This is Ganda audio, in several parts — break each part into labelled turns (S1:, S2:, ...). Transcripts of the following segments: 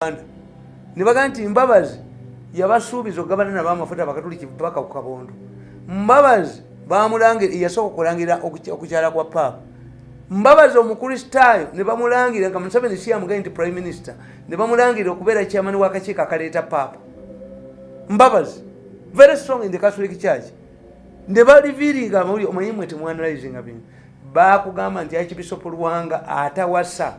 S1: uganda nebaga nti mbabazi yabasuubiza okugabana nabo amafuta bakatuliki paka ku kabondo mbabazi bamulangira yasooka okulangira okukyala kwa paapa mbabazi omukristaayo ne bamulangira nga museveni si yamugaye nti prime minister ne bamulangira okubeera kyamani wakakiiko akaleeta paapa mbabazi very strong in the catholic church ne baliviringa amawuli omanyi mwe temwanalizinga bino bakugamba nti akibisopo lwanga atawasa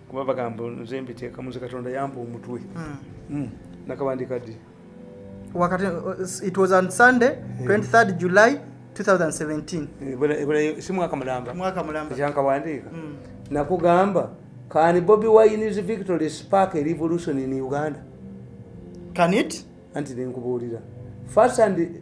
S1: kuba bagamba nze mbiteekamu nze katonda yamba omutwe hmm. Hmm. nakabandika ddi wakati
S2: uh, it was on sunday 23 eh. july 2017 eh, si mwaka mulamba mwaka
S1: mulamba kyankawandiika
S2: hmm.
S1: nakugamba can bobi wine's victory spark a revolution in uganda can
S2: it anti nenkubuulira
S1: first and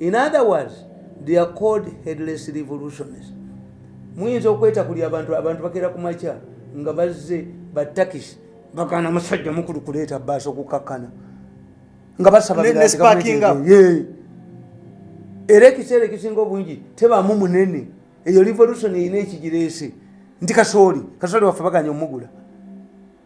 S1: in other words they are called headless revolutions muyinza okweta kuli abantu abantu bakera ku makya nga bazze batakisi bagana musajja mukulu kuleeta baasi okukakkana nga basaba era ekiseera ekisinga obungi tebaamu munene eyo revolution erina ekigireese nti kasooli kasooli waffe baganya omugula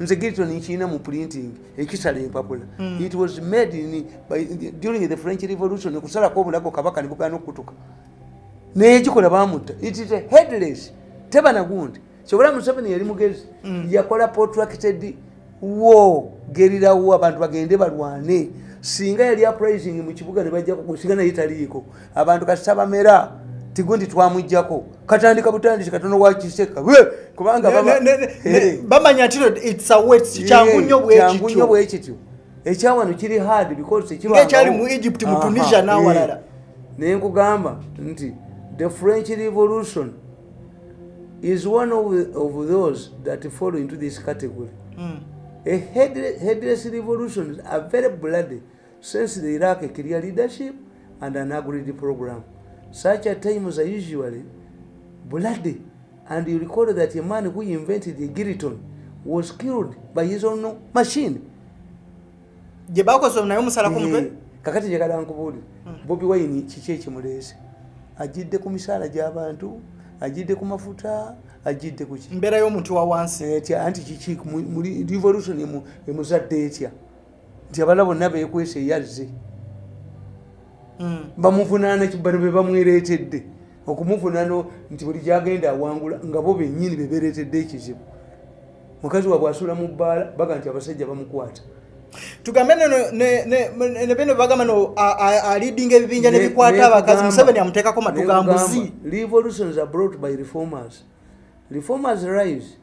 S1: nze gilton nkirina mu printing ekisala empapula mm. it was made in, by, during the french revolution kusalako obulago kabaka nebugana okutuka naye kikola bamutta it is a headless tebana gundi kyobola museveni yali mugezi mm. yakola protracted war gerirawo abantu bagende balwane singa yali uprising mu kibuga nebajja kugusinga naye taliiko abantu kati tabamera tigundi twamujjako katandika butandisi katono wakiseka kubanga
S2: bamanya ntino its a wet kyangu nnyo bwekityo
S1: ekyawano kiri hard because ekyali mu egypt
S2: mu tunisia nawalala naye nkugamba
S1: nti the french revolution is one of, of those that follow into this category mm. a headless, headless revolution are very bloody Since they lack a clear leadership and an agreed program, such at times are usually bloody. And you recall that a man who invented the Giriton was killed by his own machine. Je bako so nayo musala ku mutwe. Eh, kakati je kadan kubuli. Hmm. Bobi wine chiche chimulese. Ajidde ku misala ja abantu, ajidde ku mafuta, ajidde ku chi. Mbera yo muntu wa wansi.
S2: Eh, anti chichi
S1: muri revolution emu emuzadde etya. nti abala bonna bekwesa eyazze hmm. bamuvunaana kibano be bamwereetedde okumuvunaana nti buli gyagenda awangula nga bo bennyini be bereetedde ekizibu mukazi wabwe asula mu bbaala baga nti abasajja bamukwata tugambe ne
S2: bino bagamba no alidinga ebibinja nebikwata abakazi museveni amuteekako matugambuzi revolutions are
S1: brought by reformers reformers rise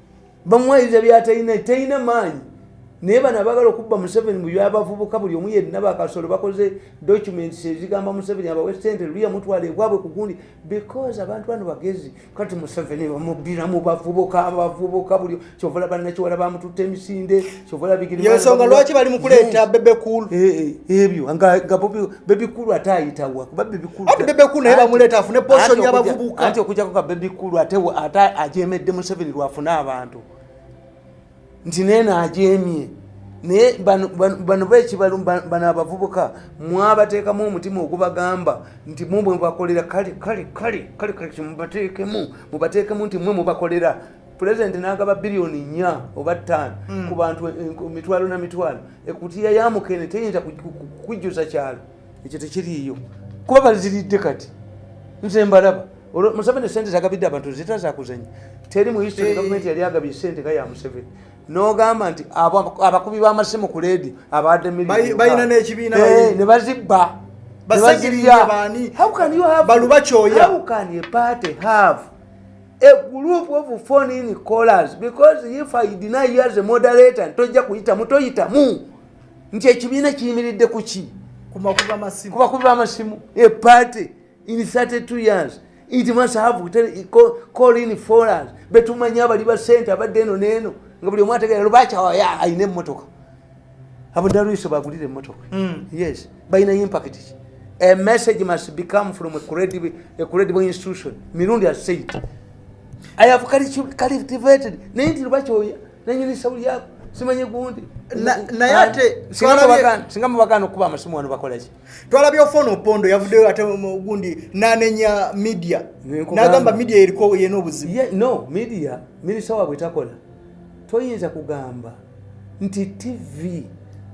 S1: bamwayiriza byatalina talina maanyi naye bano abagala okubba museveni mubyabavubuka buli omu yenna bakasolo bakoze documents ezigamba museveni abawe sente luya mutwala ebwabwe kugundi because abantu bano bagezi kati museveni bamubbira mu bavubuka abavubuka buli kyovala banakiwala bamututte emisinde yensonga lwaki bali
S2: mukuleeta bebekulu eh, eh, ebyo
S1: bebikulu ate ayitawa kuba bebikulu ati bebekulu naye bamuleeta
S2: afune poson yabavubuka anti okujako ka bebikulu
S1: ate ate ajemedde museveni lwafune abantu nti naye naajemye naye bano bekibalu bano abavubuka mwabateekamu omutima ogubagamba nti mumwe mubakolera kale kale kale kale kale mubateekemu mubateekemu nti mwe mubakolera pulezidenti n'agaba biliyoni nnya oba ttaano hmm. ku bantu e, e, mitwalo na mitwalo ekutiya ya mukene teyinza kujjuza kyalo ekyo tekiriiyo kuba baziridde kati nze mbalaba museveni esente zagabidde abantu zita zakuzanya teri mu history gavumenti yali agabye sente nga ya museveni nogamba nti abakubi b'amasimu ku leedi abadde milbalina n'ekibiina
S2: eh, ne bazibba
S1: bazirya
S2: how can you have, how can a
S1: party have a group of phone in callers because if i deny you as a moderator ntojja kuyitamu toyitamu nti ekibiina kiyimiridde kuki kubakuba
S2: amasimu
S1: a party in 32 years it must have call in follers betumanya abali basente abadde eno neeno nga buli omwategera lubakyawa alina emmotoka abudaruiso bagulira emotoka mm. yes balina impact ki a message must become from a credible, a credible institution mirundi has said i have cultivated naye nti lubakyoya nanyini sauli yako simanyi gundi naye ate
S2: singa
S1: mubagana okuba amasimu wano bakolaki twalabye ofona opondo
S2: yavuddeyo ate gundi nanenya media nagamba media eriko yena obuzibu no media
S1: minisita wabwe takola toyinza kugamba nti tv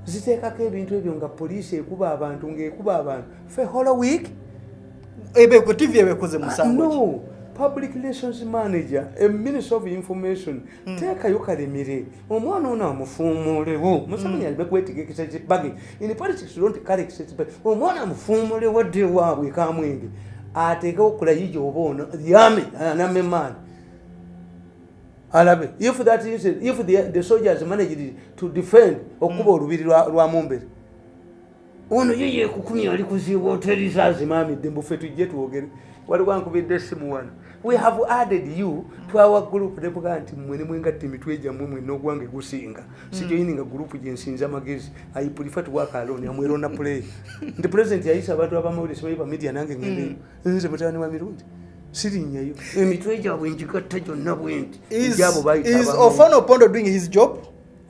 S1: ziteekako ebintu ebyo nga poliisi ekuba abantu ngaekuba abantu fe holo week
S2: tv ebekoze musango ah, public
S1: relations manager a minister of information mm. teekayo kalemire omwana ono amufuumulewo hmm. museveni alibe kwetegekesa kibage in politics don't carry kibage omwana amufuumulewo dde waabwe kamwenge ateekewo kulayija oba ono yame anamemaani alabe if that is if the, the soldiers managed to defend okuba mm. olubiri lwa mumbere ono ye yekukumya ali kuziibwa oterizazimamidde mbufe tujje twogere waliwo ankubidde esimu wano we have added you to our group nebuga nti mwe ne mwengatta emitwe gyammwe mwe n'ogwange gusinga mm. sijoyininga group gye nsinza amagezi ayipulifa tuwakaloni amwerona play nti president yayisa abantu abamawulire sibayiba media nange ngendeyo mm. nze mutabani wa mirundi sirinnyayo emitwe gyabwe njigatta gyonna bwendi gyabo bayiofan opondo
S2: doing his job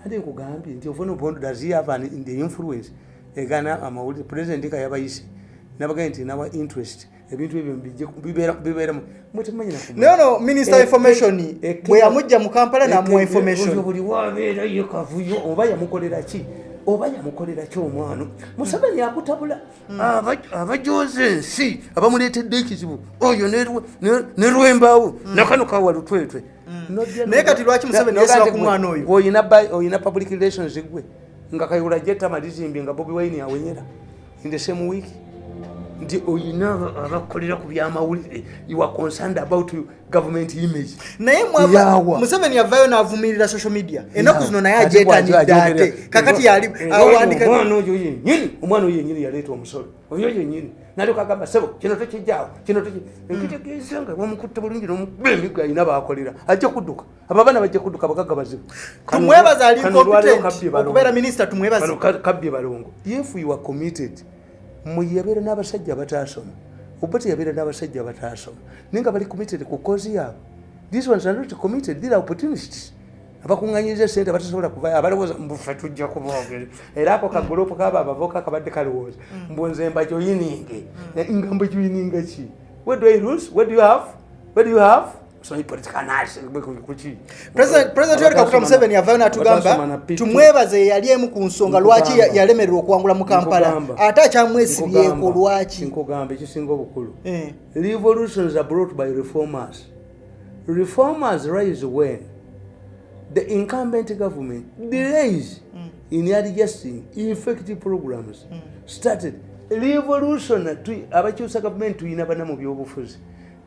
S2: ate nkugambye
S1: nti ofan opondo does he have an, the influence egana amawulire president ka yabayise nabagambye nti nawa interest ebintu ebyo bibeeramu mwetemanyina naye no minister
S2: eh, information eh, eh, bwe yamujja mu kampala namuwa information buli wabeera ye
S1: kavuyo oba yamukolera ki oba yamukolera ki omwana museveni akutabula hmm. abajooza ensi abamuleetedde ekizibu oyo ne lwembaawo hmm. nakano kawa lutwetwe naye kati
S2: lwaki museveni yesula ku mwana oyo oyina public
S1: relations gwe nga kayula jetama lizimbye nga bobi wine awenyera in the same week nti oyina abakolera ku byamawulire you are concerned about you government image naye mwawa
S2: museveni yavayo navumirira social media enaku zino naye ajetanidde ate kakati yali awandika omwana oyo yenyini
S1: omwana oyo yenyini yaleeta omusolo oyo yenyini nalyoka agamba sebo kino tekijjaawo kino tekitegeeza hmm. nga bamukutte bulungi nomukuba emigo alina baakolera ajja kudduka abo abaana bajja kudduka abagagga bazibu tumwebaza ali
S2: okubeera minisita tumwebaza kabbye balongo
S1: if you are committed muyabeera n'abasajja abataasoma oba teyabeera n'abasajja abataasoma naye nga bali committed ku kozi yaabwe these ones are not committed these are opportunities abakuŋŋanyiriza esente abatasobola kuvayo abalowooza mbufe tujja kuboogere era ako kaguloopu kaba abavoka kabadde kalowooza mm. mbu nze mbajoyininge mm. nga mbajoyininga ki president yoweri
S2: kaguta museveni yavayo natugamba tumwebaze yeyali emu ku nsonga lwaki yalemererwa okuwangula mu kampala ate akyamwesibyeko lwaki nkugamba ekisinga
S1: obukulu eh. revolutions are brought by reformers reformers rise when the incumbent government delays mm. in adjusting effective programs mm. started revolution abakyusa gavumenti tuyina bana mu byobufuzi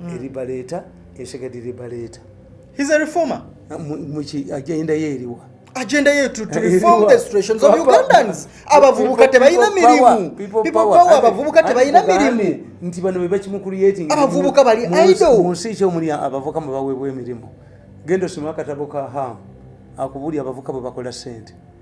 S1: mm. eribaleeta esegadi libaleeta he's a reformer
S2: muki agenda
S1: yeeriwa agenda yetu
S2: to eh, reform the situations of ugandans abavubuka tebalina mirimu people power abavubuka tebalina mirimu nti bano bebakimu
S1: creating abavubuka bali
S2: idle mu nsi ki omuli
S1: abavubuka mwe baweebwa emirimu genda osoma akatabo ka ham akubuli abavubuka bwe bakola sente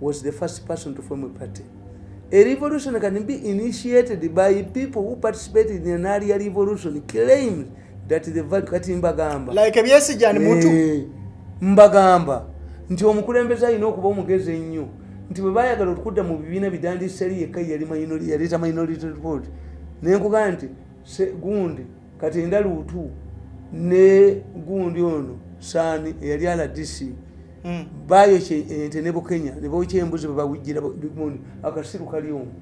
S1: was the first person to form a party a revolution can be initiated by people who participated in an earlier revolution claimed that the value kati mbagamba like ebyesigya ni
S2: muntu eh, mbagamba
S1: nti omukulembeze alina okuba omugezi ennyo nti bwe baayagala okudda mu bibiina bidandiseri yekka yali minority yaleeta minority report naye nkugamba nti gundi kati ndaluutu ne gundi ono saani eyali ala dc hmm. bayokya ente ne bukenya ne bokya embuzi bwe bawujjira bigmundi akasiru kali omu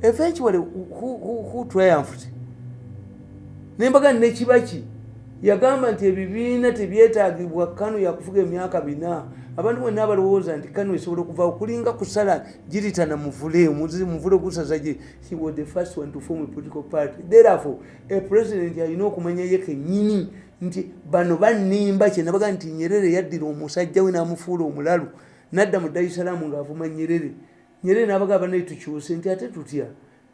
S1: eventually who triumphed nembaga nekibaki yagamba nti ebibiina tebyetagibwa kanu yakufuga emyaka bina abantu bonna abalowooza nti kanu esobola okuva okulinga kusala giritana muvule muvule gusaza gye he was the first one to form a political party therefore a president alina okumanya ye kenyini nti bano banimba kyenabaga nti nyerere yaddira omusajja we namufuula omulalu nadda mu daisalaamu ngaavuma nyerere nyerere nabaga banaye tukyuse nti ate tutya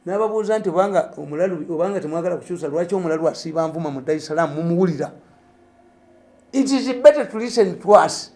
S1: nababuuza nti obanga omulalu obanga temwagala kukyusa lwaki omulalu asiiba nvuma mu daisalaamu mumuwulira it is better to listen to us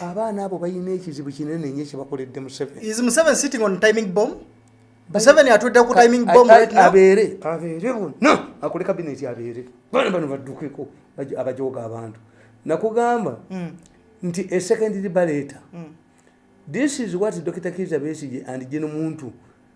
S1: abaana abo balina ekizibu kinene nyo kyebakoledde
S2: musevenabeereakole
S1: kabineti abeere bana bano baddukeko abajooga abantu nakugamba hmm. nti esecondary baleeta hmm. this is what dr kiza besige and jeno muntu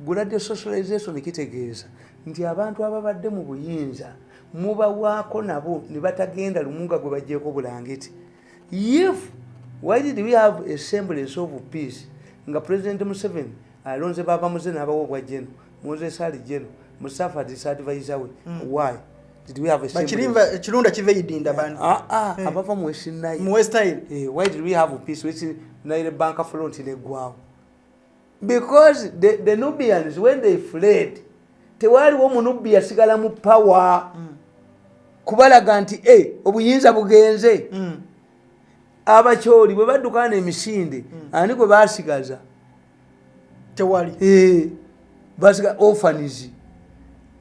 S1: Guladio socialization kitegeeza nti abantu ababadde mu buyinza mubawaako nabo ne batagenda lumunga gwe bajjeeko bulangiti if why did we have a semblance of peace nga president museveni alonze baba muze n'abawa obwa jeno moses ali jeno musafa disadvise we mm. why ekirunda kiva
S2: eidinda bani ah, ah, eh. abava
S1: muwestnile eh, why did we have peace westnile banka front negwawo because the, the nubians when they fled tewaaliwo munubbi yasigala mu power mm. kubalaga nti e eh, obuyinza bugenze mm. abakyoli bwe baddukana emisinde mm. ani gwe basigaza tewali e.
S2: basika
S1: orphans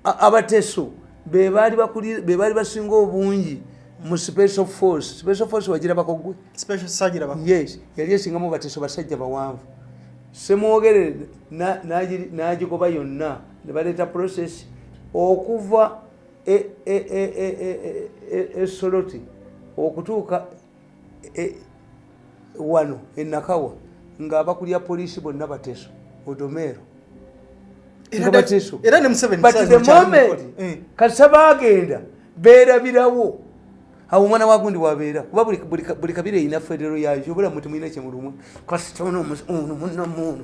S1: abateso bebaali bakuli bebaali basinga obungi mu special force special force wagira bakogwe special sagira bakogwe
S2: yes yali esinga mu
S1: bateso basajja bawanvu semwogere na naji naji koba yonna ne baleta process okuva e e e e e e, e, e soloti okutuuka e, wano enakawa nga abakulira poliisi bonna bateso odomeero kasa bagenda berabirawo awo omwana wagundi wabeera kuba buli kabira erina federo yayo obulamu temulina kyemulumwa kasita ono munamuno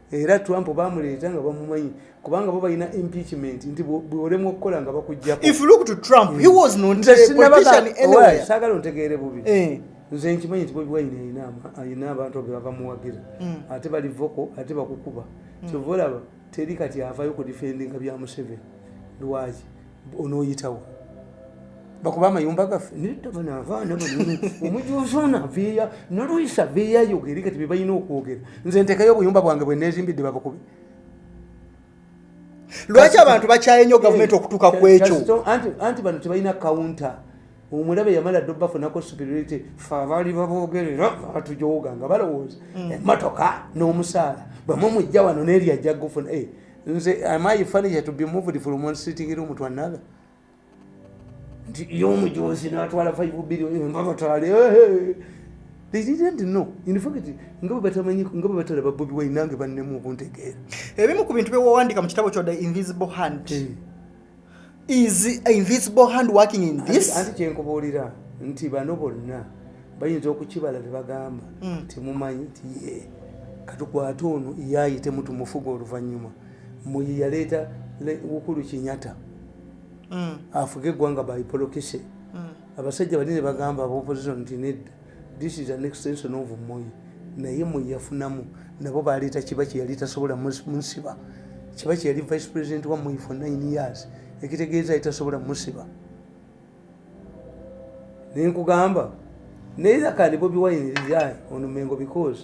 S1: era trump bamuleeta nga bamumanyi kubanga bo balina impeachment nti bwolemwa okukola nga
S2: bakugjakosaagala ontegeere bubi
S1: eh. nze nkimanyi nti bobi wine alina abantu be babamuwagira hmm. ate bali voko ate bakukuba hmm. kyova olaba teri kati avayo ku defendinga bya museveni lwaki onoyitawo bakuba amayumba gaffe omujuzi ono aveeya noluyisa aveeyo ayogere kati bebalina okwogera nze ntekayo obuyumba bwange bwenezimbidde babukube
S2: lwaki abantu bakyaye nyo gavumenti okutuuka ku ekyo anti bano tebalina
S1: kawunta omulabe yamala ddo bafunako superiority fe abaali babogerera batujooga nga balowooza hmm. emotoka n'omusaala bwemwe mujja wano neeri ajja gufuna eh, nze am i furniture to be moved from one sitting room to another nti yomujonzi natwala 5 billion eh, mbabatwale eh, eh. they didn't know in fact nga batamanyi nga batalaba bobi wine nange bannemu obuntegeera ebimu ku bintu
S2: byewawandika mu kitabo kyo the invisible hand hey. is invisible hand working in this anti kyenkubuulira
S1: nti bano bonna bayinza okukibala tebagamba hmm. temumanyi nti ye katukwate ono yayitemu tumufuga oluvannyuma muye yaleeta wukulu kinyata hmm. afuge eggwanga by polokise hmm. abasajja bali ne bagamba abaopposition nti nedda this is an extension of moyi naye moyi yafunamu nabo baleeta kiba kyeyali tasobola musiba kiba kyeyali vice president wa moyi for nine years ekitegeeza yali tasobola musiba naye nkugamba naye akandi bobi wine lizai onumengo because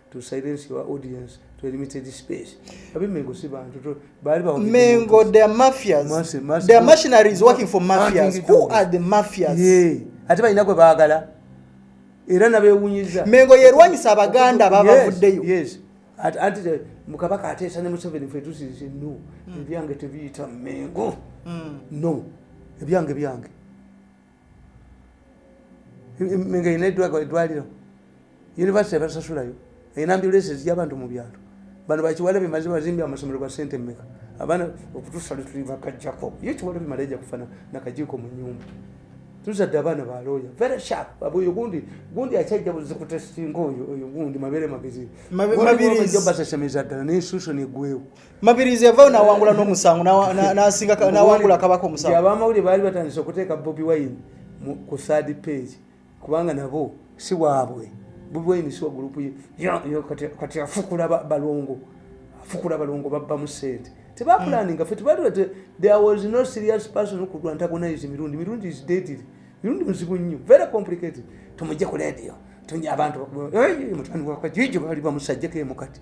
S1: to silence your audience to a limited space. Abi Mengo si bantu bali ba Mengo
S2: they are mafias. Mercy, mercy, they are mercenaries working for mafias. Who are the mafias? Yeah. Ati balina gwe baagala. Era nabewunyiza. Mengo yerwanyisa abaganda babavuddeyo. Yes. At
S1: anti the mukabaka atesa ne Museveni fe tusi no. Hmm. Ebyange tebiyita Mengo. Mm. No. Ebyange byange. nga erina edwaliro univesity ebasasulayo erina ambulance ezija abantu mu byalo bano bakiwala bemaze bazimbi amasomero ga sente meka abaana okutusa lwetuli bakajjako ye kiwala bimala eja kufana nakajiiko mu nyumba tuzadde abaana ba looya very sharp oyo gundi gundi akyajja buzikutestinga oyo oyo gundi mabere magezi mabirijo basesemeza ddala ne institution egwewo mabirizi yavayo
S2: nawangula n'omusango nawangula akabaka omusango abamawulire baali batandise
S1: okuteeka bobi wine ku third page kubanga nabo si waabwe bobi wine si wagulupu kati afukula balongo afukula balongo babbamu sente tebapulaninga fe tebaliwa there was no serious person who could antagonize mirundi mirundi is deadly mirundi muzibu nnyo very complicated tumujje ku radio abantu mutani wakajwijo bali bamusajjeko emukati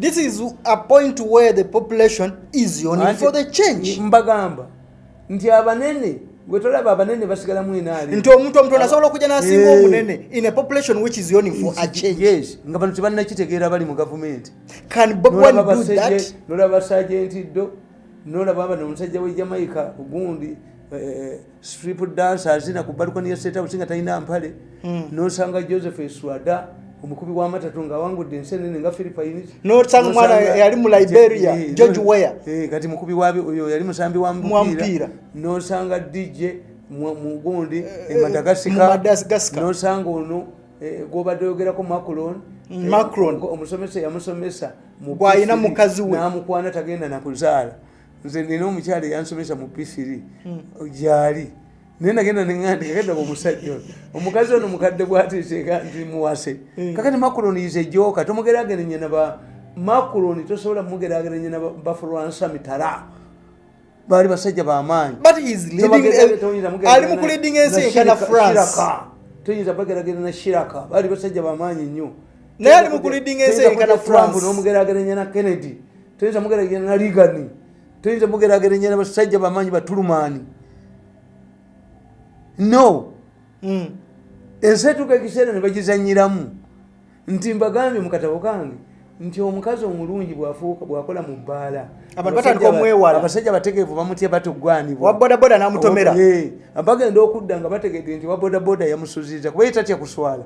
S2: this is a point where the population is on for the change mbagamba
S1: nti abanene gwe tolaba abanene basigala mu enaali nti omuntu omutono asobola
S2: okujja n'asinga eh. omunene in a population which is yoni for a change yes nga bano
S1: tebannakitegeera bali mu gavumenti can bob one
S2: do that nolaba sajenti
S1: ddo nolaba abana omusajja we jamaica ogundi eh, eh, strip dance azina ku balukoni ya state house nga talina mpale mm. nosanga joseph eswada omukubi wa matatu nga awangudde ensi enene nga philippines nosanga omwana
S2: yali mu liberia eh, george ware eh, kati mukubi waoyo
S1: yali musambi wa mupiira nosanga dj mugundi eh, e madagascar nosanga ono gwobadde oyogerako macron mm, macron omusomesa yamusomesa gwalina
S2: mukazi we namukwana tagenda
S1: nakuzaala nze nina omukyala eyansomesa mu pifiri hmm. gyali naye nagenda neŋandi kagenda omusajja ono omukazi ono mukadde bwateteeka nti muwase hmm. kakati makuloni yize joka tomugerageranya naba makuloni tosobola mugerageranya na bafulwansa mitala baali basajja bamaanyi
S2: toyinza
S1: bageragerana shiraka baali basajja bamaanyi nnyo naye ali mukulidinga
S2: ensi enkana france nomugerageranya na kennedy
S1: toyinza mugerageranya na ligani toyinza mugerageranya na basajja bamanyi batulumaani no hmm. ensi etuuka ekiseera ne bagizanyiramu nti mbagambye mukatabo kange nti omukazi omulungi bwafuuka bwakola mu bbaala abantu batandika
S2: omwewala abasajja bategeevu bamutya
S1: batogwanibwa wabodaboda
S2: namutomera bagenda
S1: okudda nga bategedde nti wabodaboda yamusuziza kuba ye tatya kuswala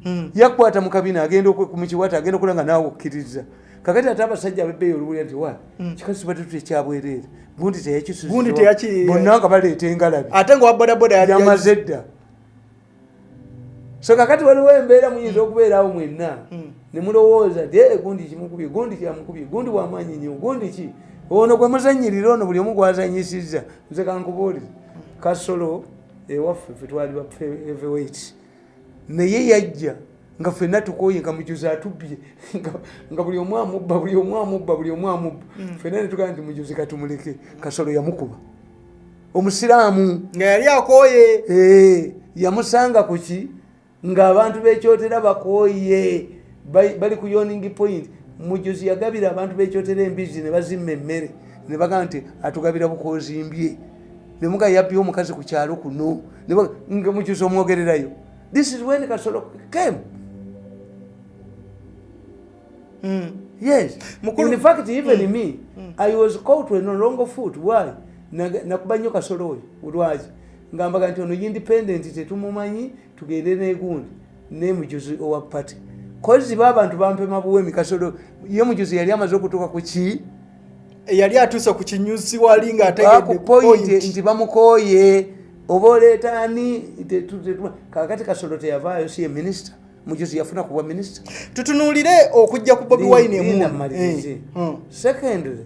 S1: hmm. yakwata mukabina agenda mukiwata agenda okulanga naawe okkiriza kakati ate abasajja abebeeyo oluwulira nti wa hmm. kikazi tubadde tuta ekyabwereere gundi teyakisusibbonna nga baleeta engalabi ate nga wabodaboda
S2: yamaze edda
S1: so kakati waliwo embeera muyinza hmm. okubeerawo mwenna nemulowooza nti ee eh, gundi kimukubye gundi kyamukubye gundi wamaanyi nyo gundi ki ono gwemuzanyirira ono buli omu gwazanyisizza nze kankubuulire kasolo ewaffe fe twali ba heavyweight naye yajja nga fenna tukoye nga mujuzi atubbye nga buli omu amubba buli omu amubba buli omu amubba mm. fenna netugamba nti mujuzi katumuleke kasolo yamukuba omusiraamu nga yali
S2: akoye eh, yamusanga
S1: kuki ng'abantu bekyotera bakooye bali ku yoning point mujuzi yagabira abantu bekyotera embizi ne bazimma emmere ne bagamba nti atugabira bukozimbye ne muga yabbye omukazi ku kyalo kuno nga mujuzi omwogererayo this is when kasolo came mm. yes Mukulu. in fact even mm. me mm. i was caught when no longer foot why nakuba nnyo kasolo oyo lwaki ngambaga nti ono independent tetumumanyi tugende negundi nemujuzi owa party kozi ba abantu bampema buwemi kasolo ye mujuzi yali amaze okutuuka ku ki yali
S2: atuuse ku kinyusi wali nga ategedepoint nti
S1: bamukooye oba oleeta ani kakati kasolo teyavaayo si ye minisita mujuzi yafuna kubwa minisita tutunuulire
S2: okujja ku bobi wine emunamalirize eh, hmm. secondly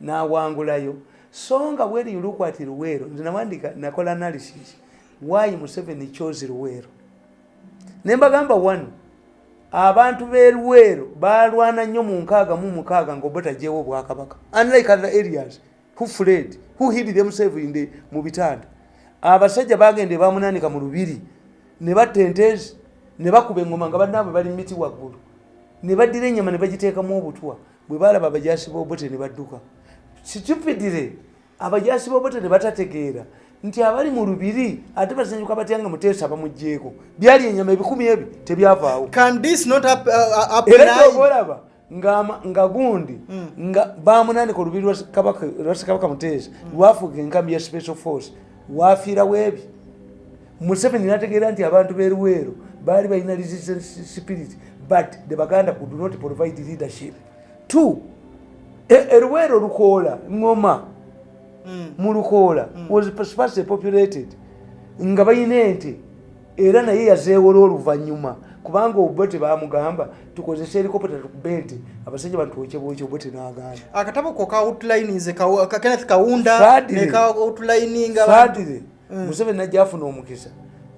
S1: n'awangulayo so nga when you look at luweero nze nawandika nakola analysis why museveni chose luweero ne mbagamba one abantu b'e luweero balwana nnyo mu nkaaga mu mukaaga ngaobotajewo obwakabaka unlike other areas who fled who hid themselves in the mu bitanda abasajja bagenda ebamunanika mu lubiri ne batta entezi ne bakuba engoma nga banaabwe bali mumiti waggulu ne baddira ennyama ne bagiteekamu obutwa bwe baalaba abajaasi b'obote ne badduka situpidire abajaasi b'obote ne batategeera nti abali mu lubiri ate basanyuka batya nga muteesa bamugyeko byali enyama ebikumi ebyo tebyavaawo uh,
S2: uh, era obolaba
S1: nga gundi hmm. nga bamunanika olubiri lwasekabaka muteesa hmm. lwafuga enkambi ya special force wafiirawo ebyo museveni nategeera nti abantu beruweero baali balina resistance spirit but the baganda could not provide leadership t eruweero e lukoola ngoma mm. mu lukoola mm. was sparsely populated nga balina ente era naye yazeewola oluvannyuma kubanga obote bamugamba tukozesa elikopota tukube nti abasajja bantuwekyebwekyo obote nagamba akatabo ko ka
S2: outline nze kenneth kawunda ne ka outline nga mm.
S1: museveni najja afuna omukisa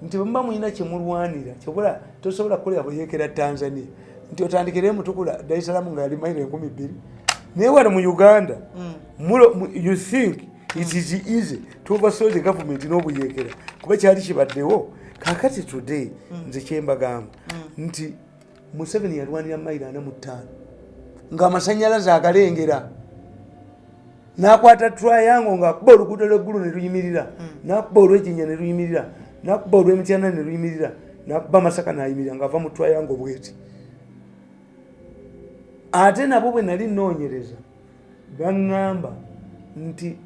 S1: nti bwemuba mulina kyemulwanira kyobola tosobola kukolera buyekera tanzania nti otandikire emutukula darisalamu nga yali mairo enkumi bbiri naye wano mu uganda mm. mulo you think it is easy to oversaw the government n'obuyekera kuba kyali kibaddewo kakati today mm. nze kyembagamba nti museveni yalwanira mayiro ana mu ttaano ng'amasanyalaze agalengera nakwata triangle nga kuba oluguudo lweggulu ne luyimirira hmm. nakuba olwejinya ne luyimirira nakuba olwemityana ne luyimirira nakuba masaka nayimirira ngaava mu triangle bweti ate nabo bwe nali noonyereza baŋŋamba nti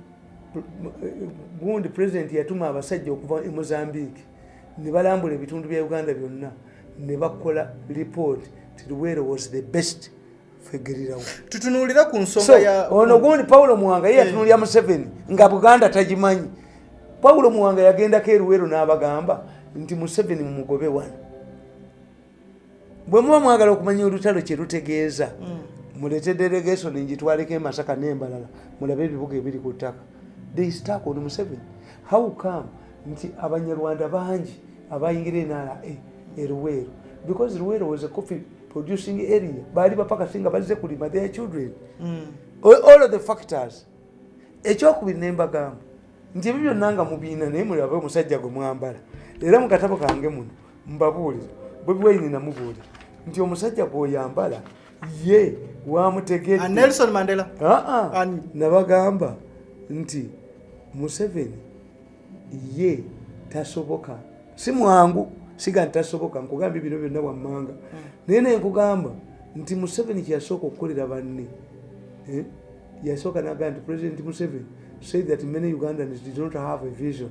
S1: gundi president yatuma abasajja okuva e mozambique ne balambula ebitundu bya uganda byonna ne bakola lipooti ti luweero was the best fegerirawo tutunuulira ku
S2: nsonga ya ono gundi pawulo muwanga
S1: ye yatunuulira museveni nga buganda tagimanyi pawulo muwanga yagendako eruweero n'abagamba nti museveni mumugobe wano bwe muba mwagala okumanya olutalo kye lutegeeza mm. mulete delegation ngitwaleko emasaka nembalala mulabe ebibuga ebiri ku ttaka they stuck on museveni how come nti abanyarwanda bangi abayingira enara e, eruweero because ruweero was a coffee producing area baali bapakasi nga bazze kulima their children mm. all of the factors ekyokubiri nembagamba nti ebyo byonna nga mubiina naye mulabe omusajja gwe mwambala era mukatabo kange muno mbabuulire bobi wayini namubuulira nti omusajja gwoyambala ye wamutegednelson ah, mandela
S2: aa ah, ah.
S1: nabagamba nti museveni ye tasoboka si mwangu siga nti tasoboka nkugambye bino byonna wammanga hmm. naye naye nkugamba nti museveni kyeyasooka okukolera banne eh? yasooka nagamba nti president museveni said that many ugandans did not have a vision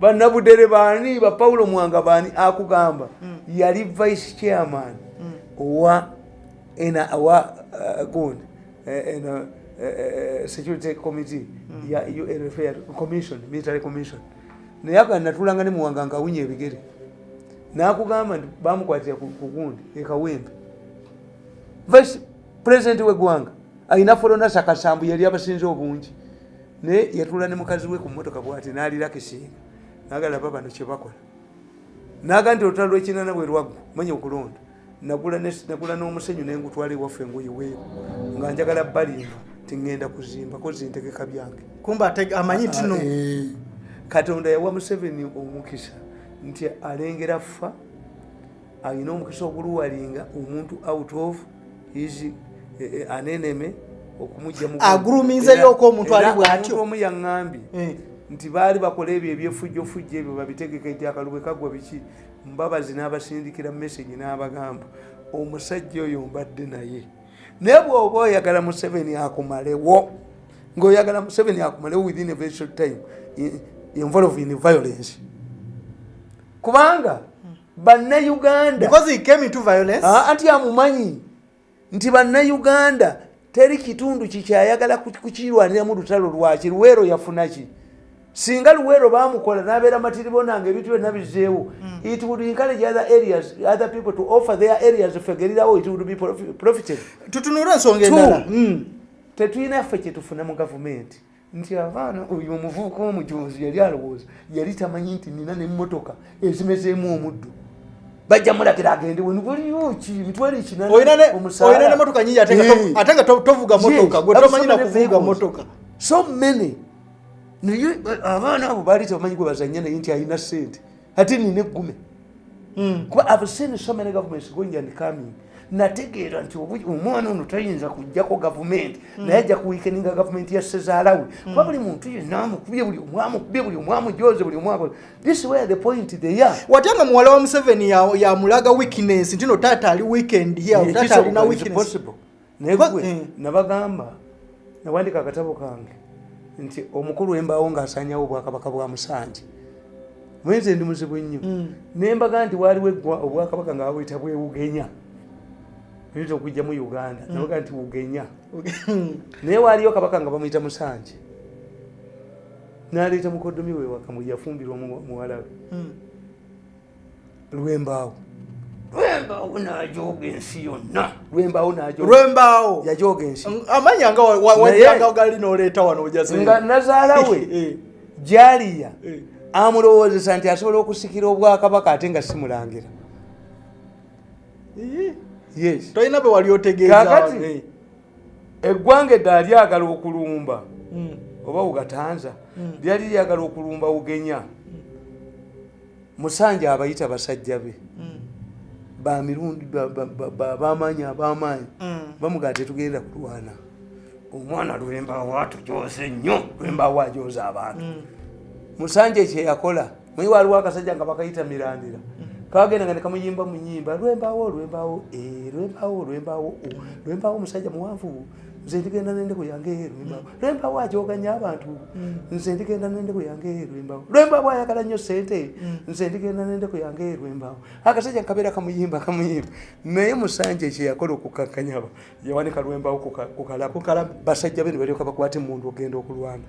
S1: banabudere baani ba paulo mwanga baani akugamba mm. yali vice chairman mm. owa ena awa uh, gundi eh, ena uh, uh, security committee mm. ya unfa commission military commission naye aga natulanga ne muwanga nkawunya ebigere nakugamba nti bamukwatira kugundi ekawembe vice president wegwanga ayina forona sakasambu yali abasinze obungi naye yatula ne mukazi we ku mmotoka bwati n'alirako esinga nagala ba bano kye bakola naga nti olutalo lwekinana bwe lwaggu manya okulonda nagula n'omusenyu ne ngutwala ewaffe engoyiweeyo nga njagala balimba ti ŋŋenda kuzimba kozi ntegeka byange kumba amanyi
S2: tino ah, eh. katonda
S1: yawa museveni omukisa nti alengera ffa alina omukisa oguluwalinga omuntu out of his eh, eh, aneneme aguluminze lyoko omuntu
S2: ali bwatyo omu yaŋambye
S1: eh. nti baali bakola ebyo ebyefujjofujjo ebyo babitegeka ejakaluwe kagwa biki mbabazi n'abasindikira message n'abagamba omusajja oyo mbadde naye naye bwoba oyagala museveni akumalewo ngaoyagala museveni akumalewo within a very short time involve in violence kubanga bannayuganda
S2: ah, anti amumanyi
S1: nti bannayuganda teri kitundu kikyayagala kukirwaniramu lutalo lwaki luweero yafunaki singa luweero bamukola nabeera matiribo nange ebintu byonna bizeewo hmm. it would encourage other areas other people to offer their areas fegerirawo it would be profited tutunura ensonga
S2: endala hmm. tetulina
S1: ffe kyetufuna mu gavumenti nti abaana oyo omuvubuka omujonzi yali alowooza yali tamanyi nti nina nemotoka ezimezeemu omuddu bajja mulagira agende wenwaliyokimitwalokinanomotoka
S2: nyingi ate nga tovuga motoka gwe tomanyi nakuvuga motoka so many
S1: naye abaana abo baali tamanyi gwe bazanya naye nti alina sente ate nina eggume hmm. kuba i've seen so many governments going and coming nategeera nti omwana ono tayinza kujjako gavumenti hmm. naye ajja kuwikeninga gavumenti ya sezaalawe hmm. kuba buli muntu yenna amukubye buli omwamukubye buli omwamujoze buli omwakola this where the point they are wate nga muwala wa museveni
S2: yamulaga weakness ntino taata ali weekend yataata alina weakness naye gwe eh.
S1: nabagamba nawandika akatabo kange nti omukulu wembaawo ngaasanyawo obwakabaka bwa musanji mwenze ndi muzibu nnyo mm. nembaga nti waaliwo eggwa obwakabaka nga babuyita bwewugenya nita okujja mu uganda mm. nabaga nti wugenya naye waaliyo kabaka nga bamuyita musanji naleeta mukodomi wewakamu yafumbirwa muwalawe mm. lwembaawo lwembaawo najooga ensi yonna lwembaawo lwembaawo yajooga ensi amanya nga
S2: wajanga gali noleeta wano ojasinga nazaala we
S1: eh. jaliya eh. amulowoozesa nti asobola okusikira obwakabaka ate nga simulangira yes tolina bwe wali
S2: otegeezakati
S1: eh. eggwanga eddala lyagala okulumba hmm. oba ugatanza hmm. lyali lyagala okulumba ugenya musanja abayita basajja be mm. bamirundi bamaanyi abamaanyi mm. bamugaa tetugenda kulwana omwana lwembawo atujoze nnyo lwembawo ajoza abantu mm. musanja ekyeyakola mwe waliwo akasajja nga bakayita mirandira kagenda nga nekamuyimba munyimba lwembawo lwembawo eh, lwembawo lwembawo lwembawo omusajja muwanvu nze ndigenda nende kuyange lwembawo mm. lwembawo ajoganya abantu mm. nze ndigenda nende kuyange lwembawo lwembawo ayagala nnyo sente mm. nze ndigenda nende kuyange lwembawo akasajja nkabeera kamuyimba kamuyimba naye musanje kyeyakola okukakanyaba yawanika lwembawo kukalakukala basajja be nibalyoka bakwata emundu okugenda okulwana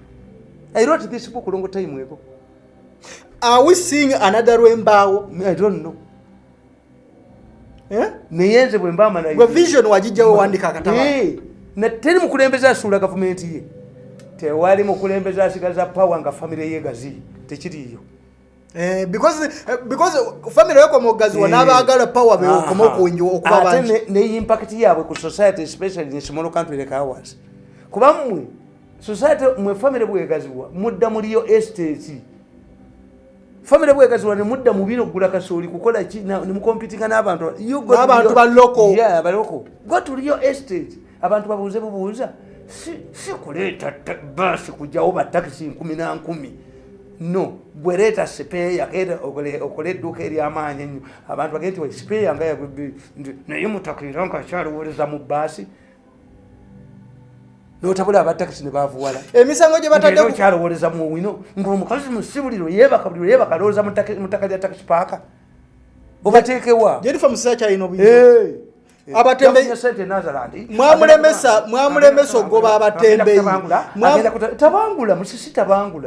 S1: i wrote this book long time ago
S2: are we seeing another lwembawo i don't know
S1: eh? naye nze bwemba amanavision wagijjawo wandika
S2: akataba eh, nateri
S1: mukulembeza asuula gavumenti ye tewali mukulembeza asigaza pawa nga famire yegazi tekiriyo Eh,
S2: because eh, because family yako mogazi eh. wanabagala power be okomo kunjo okuba bantu ne impact yabwe
S1: ku society especially in small country like ours kuba mwe society mwe family bwe gaziwa mudda muliyo estate famire bwegazula nemudda mubino okugula kasooli kukola ki nemukompitinga n'abantu abantu baloko
S2: baloko
S1: gotuliyo estate abantu babuuze bubuuza si kuleeta baasi kujawo batakisi nkumi na nkumi no bwereeta sipeeya okola edduuka eryamaanyi ennyo abantu bagee nti sipeeya nga naye mutakiira nkakyaliwoleza mu baasi notabula abatakisi nebavuwala emisango gye batadde
S2: kyalowoleza mu owino
S1: ngaomukazi musibuliro yebaka buliro yebaka alowoleza mutaka lya takisi paaka obatekewa jerifa musisa
S2: kyalina obuyi Eh, mwamulemesa mwamulemesa okugoba
S1: abatembeyi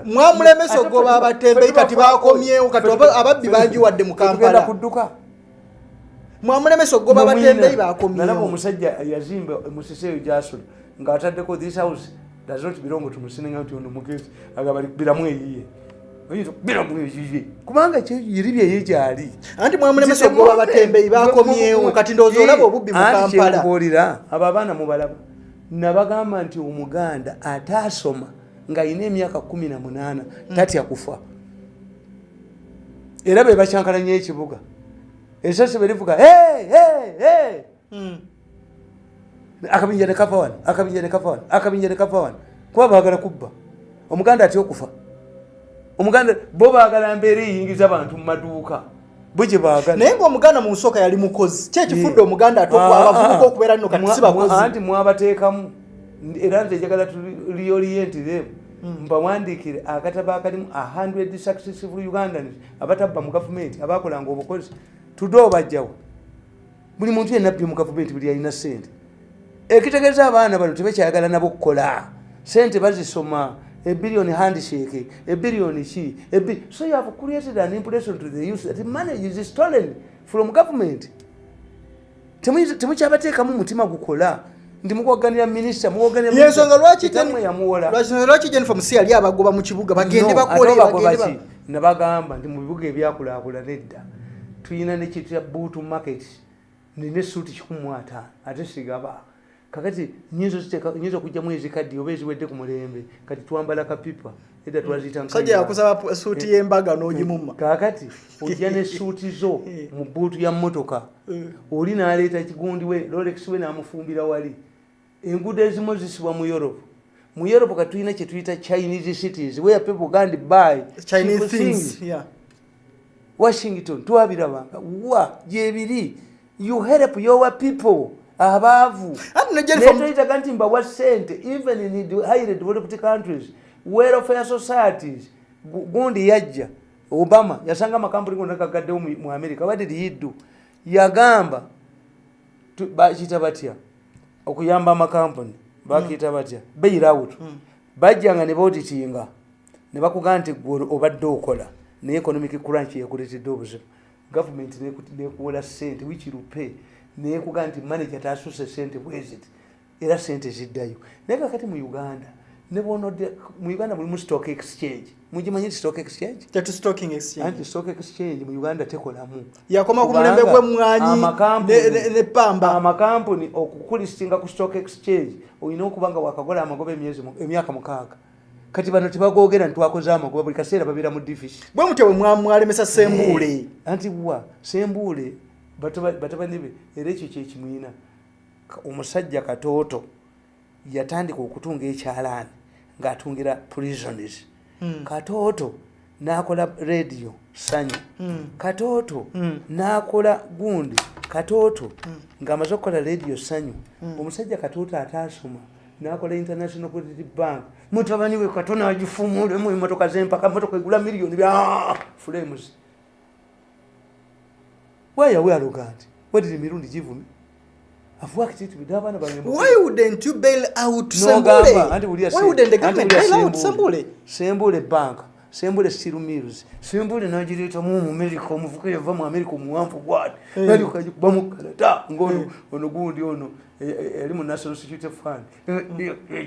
S1: mwamulemesa okugoba
S2: abatembeyi kati bakomyewo kati ababbi bangi wadde mu kampala mwamulemesa okugoba batembeyi bakomyalaba omusajja
S1: yazimba musisi eyo gyasula nga ataddeko this house does not belong to musininga nti ono mugezi agabali biramu eyiye kubanga yiri byeye gyali anti mwamulemesa
S2: okugoba batembeyi bakomyewo kati ndowooza olaba obubbi mukampalaolira abo abaana
S1: mubalaba nabagamba nti omuganda ataasoma ng'alina emyaka kumi na munaana tatya kufa mm. era be bakyankala nyo ekibuga esasi berivuga hmm. akabinja nekava wano akabinja nekava wano akabinja nekava wano kuba bagala kubba omuganda atya okufa omuganda bo bagala mbeera eyingiza abantu mu maduuka bwegye bagala naye nga omuganda mu nsooka
S2: yali mukozi kyekifudde eh. omuganda atokwabavubuka ah, ah, ah. okubeera nno kati sibakozi anti mwabateekamu
S1: era nti ejagala tuliorienti them Mm. mbawandiikire akatabo akalimu a hundred successive ugandans abatabba mu gavumenti abakolanga obukozi tude obajjawo buli muntu yenabbi mu gavumenti buli yalina sente ekitegeeza abaana bano tebekyayagala nabo okukola sente bazisoma ebilioni handshake ebilioni ki so you have created an impression to the youth that money is stolen from government temukyabateekamu mutima gukola nti mukuwaganira minisita muwaganirayensonga
S2: lwaki jennifer musi yali abagoba mu kibuga bagende bakolebagende nabagamba nti
S1: mu bibuga ebyakulakula nedda tulina nekitya buutu market nine suuti kikumuataano ate sigaba kakati nyinza okiteeka nyinza okugyamu ezikaddi oba eziwedde ku mulembe kati twambala kapipa edda twaziyitamusajja yakusaba
S2: suuti y'embaga eh, n'ogimuma eh, kakati ojja
S1: ne suuti zo eh. mu bbuutu ya mmotoka oli n'aleeta ekigundi we lolekisi we n'amufumbira wali enguudo ezimu zisibwa mu europe mu europe kati tulina kye tuyita chinese cities where people gand by chinese things
S2: yeah.
S1: washington twabirabanga wa gyebiri you help your people abaavu netoyitaga nti mbawa sente even in the highly developed countries welfare societies gundi yajja obama yasanga amakampuni gona gagaddewo mu america what did he do yagamba bakiyita batya okuyamba amakampuni bakiyita batya bailout hmm. bajjanga ne baoditinga ne bakugamba nti gwe obadde okola naye economic crunch yakuleetedde obuzibu gavumenti nekuwola sente which will pay nekuga nti manager tasuse sente bwezit era sente ziddayo naye kakati mu uganda nebwonode mu uganda mulimu stock exchange mugimanyi nti stock exchange tetu stock exchange anti stock exchange mu uganda tekolamu yakoma ku mulembe
S2: gwe mwanyi ne pamba amakampuni
S1: okukulistinga ku stock exchange oyina okubanga wakagola amagoba emyezi emyaka mukaaga kati bano tebagogera nti twakoze amagoba buli kaseera babeera mu division bwe mutya bwe mwalemesa
S2: sembuule eh, anti wa
S1: sembuule batabani be era ekyo kyekimwina omusajja katooto yatandika okutunga ekyalaani ng'atungira prisons hmm. katooto nakola radio sanyu mm. katoto mm. nakola gundi katoto mm. nga amaze okukola radio sanyu mm. omusajja katoto ataasoma nakola international credit bank mutabani we katona agifumulemu emotoka zempaka motoka egula miliyoni bya fulames Why are we arrogant? Where did Mirundi give me? I've worked it with Havana by Why wouldn't you bail
S2: out no, Sambule? Why wouldn't the government bail out Sambule? Sambule
S1: Bank. sembule siru mills sembule nagireta mu mu america omuvuka yava mu america omuwanvu gwad eh. nali kaji kuba mu canada ngono eh. ono gundi ono eh, yali mu national security fund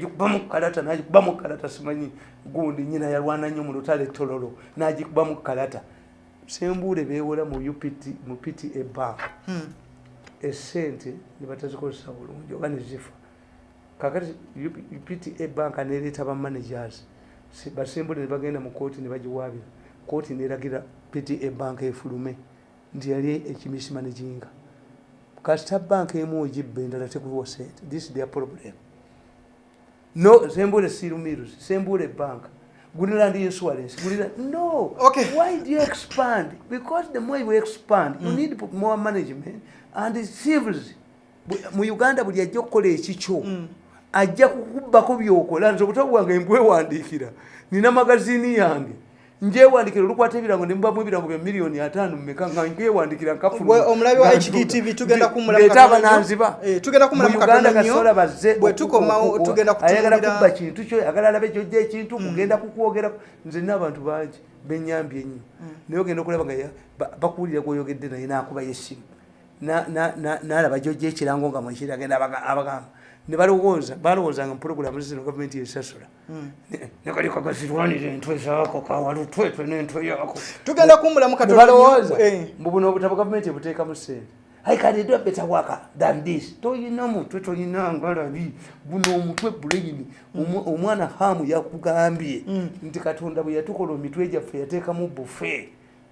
S1: kuba mu kalata naji kuba mu kalata simanyi gundi nyina yalwana nnyo mu lutale tololo naji kuba mu kalata sembuule bewola mu pta bank hmm. esente nebatazikozesa bulungi oba nezifa kakati pta bank nereeta bamanagers basembuule nebagenda mu kooti nebagiwaabira kooti neragira pta bank efulume nti yali ekimisima neginga kasita bank emu ogibba endala tekuwa sente this their problem no sembule sirumiru sembule bank gulira ndi insurance gulira no okay. why do you
S2: expand
S1: because the more you expand mm. you need more management and civils mu uganda buli ajja okukola ekikyo mm. ajja kukubbako byokola nze obutabo bwange mbwewandiikira nina magazini yange njewandikira olukwata ebirango ne mbamu ebirango bya miliyoni ataano mumeka nga nkwewandikira nkafulomulabi wa hgtv
S2: tugenda kumuleta abananziba eh,
S1: tugenda kumulamu
S2: uganda kasola bazze
S1: bwe tukomawo
S2: tugenda kutuayagala kubba kintu
S1: kyo ayagala alabe kyojja ekintu mm. kugenda kukwogera nze nina abantu bangi benyambye ennyo mm. naye ogenda okulaba nga bakuwulira gwoyogedde naye nakuba yesimu nalaba gyojja ekirango nga mwekiri agenda abagamba ne balowooza balowoozanga mu pulogulamu zino gavumenti yesasula hmm. nekali kagazirwanira entwe zaako kawalutwetwe nentwe yaako tugenda kumbulamu
S2: katobalowooza eh.
S1: mbu buno obutabo gavumenti ebuteekamu sente I can do a better worker than this. To you know mu to you know ngala bi buno omutwe buleyini omwana hamu yakugambye mm. nti katonda bwe yatukola omitwe gyaffe yateka mu buffet.